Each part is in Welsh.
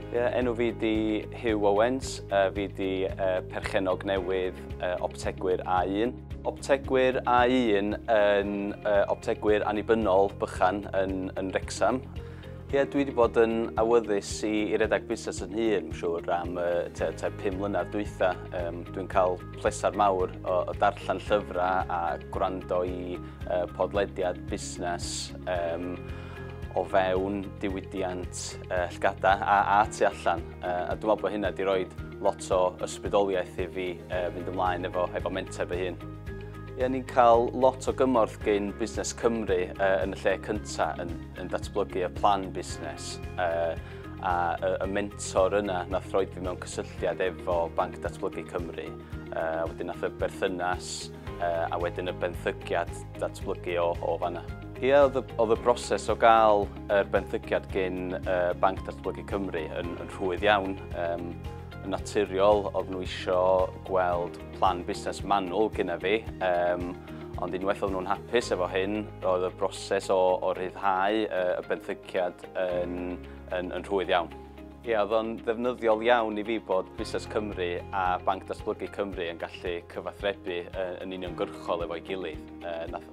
Ie, enw fi di Hugh Owens, uh, fi di uh, perchenog newydd uh, optegwyr A1. Optegwyr A1 yn uh, optegwyr annibynnol bychan yn, yn Rexham. Ie, dwi wedi bod yn awyddus i, i redag busnes yn hun, siwr, am uh, te, te 5 mlynedd dwytha. Um, dwi'n cael pleser mawr o, o darllen llyfrau a gwrando i uh, podlediad busnes. Um, o fewn diwydiant uh, llgada a, a tu allan. Uh, a dwi'n meddwl bod hynna wedi rhoi lot o ysbrydoliaeth i fi uh, fynd ymlaen efo, efo menter fy hun. Ie, ni'n cael lot o gymorth gyn Busnes Cymru uh, yn y lle cyntaf yn, yn datblygu y plan busnes. Uh, a y, y mentor yna nath roi fi mewn cysylltiad efo Banc Datblygu Cymru. Uh, wedyn nath y berthynas uh, a wedyn y benthyciad datblygu o, o fanna. Ie, yeah, oedd y broses o gael yr er benthyciad gyn uh, Banc Datblygu Cymru yn, yn rhwydd iawn. Um, yn naturiol, oedd nhw eisiau gweld plan busnes manwl gyda fi, um, ond unwaith oedd nhw'n hapus efo hyn, oedd y broses o, o ryddhau uh, y benthyciad yn, yn, yn rhwydd iawn. Ie, oedd o'n ddefnyddiol iawn i fi bod Busnes Cymru a Banc Datblygu Cymru yn gallu cyfathrebu yn uniongyrchol efo'i gilydd.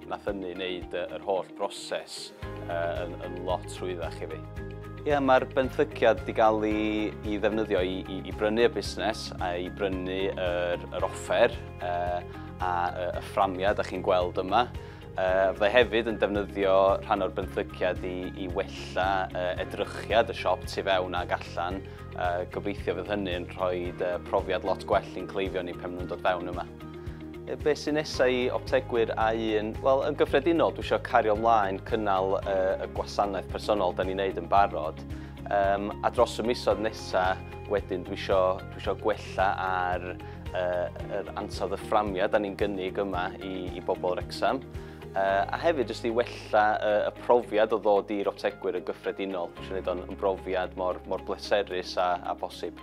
Nath hynny wneud yr holl broses yn lot rhwyddach i fi. Ie, mae'r benthyciad wedi cael ei ddefnyddio i brynu y busnes a i brynu yr offer a y fframiau dych chi'n gweld yma. Yy, fyddai hefyd yn defnyddio rhan o'r benthyciad i, i wella uh, edrychiad y siop tu fewn ag allan. Uh, gobeithio fydd hynny yn rhoi uh, profiad lot gwell i'n cleifion ni pan nhw'n dod fewn yma. E, be sy'n nesau i optegwyr a un? Wel, yn gyffredinol, dwi eisiau cario ymlaen cynnal uh, y gwasanaeth personol da ni'n neud yn barod. Um, a dros y misoedd nesaf, wedyn, dwi eisiau, dwi eisiau gwella ar uh, yr ansawdd y fframia da ni'n gynnig yma i, i bobl Rexham. Uh, a hefyd jyst i wella uh, y profiad o ddod i'r optegwyr yn gyffredinol. Dwi'n gwneud o'n brofiad mor, mor bleserus a, a bosib.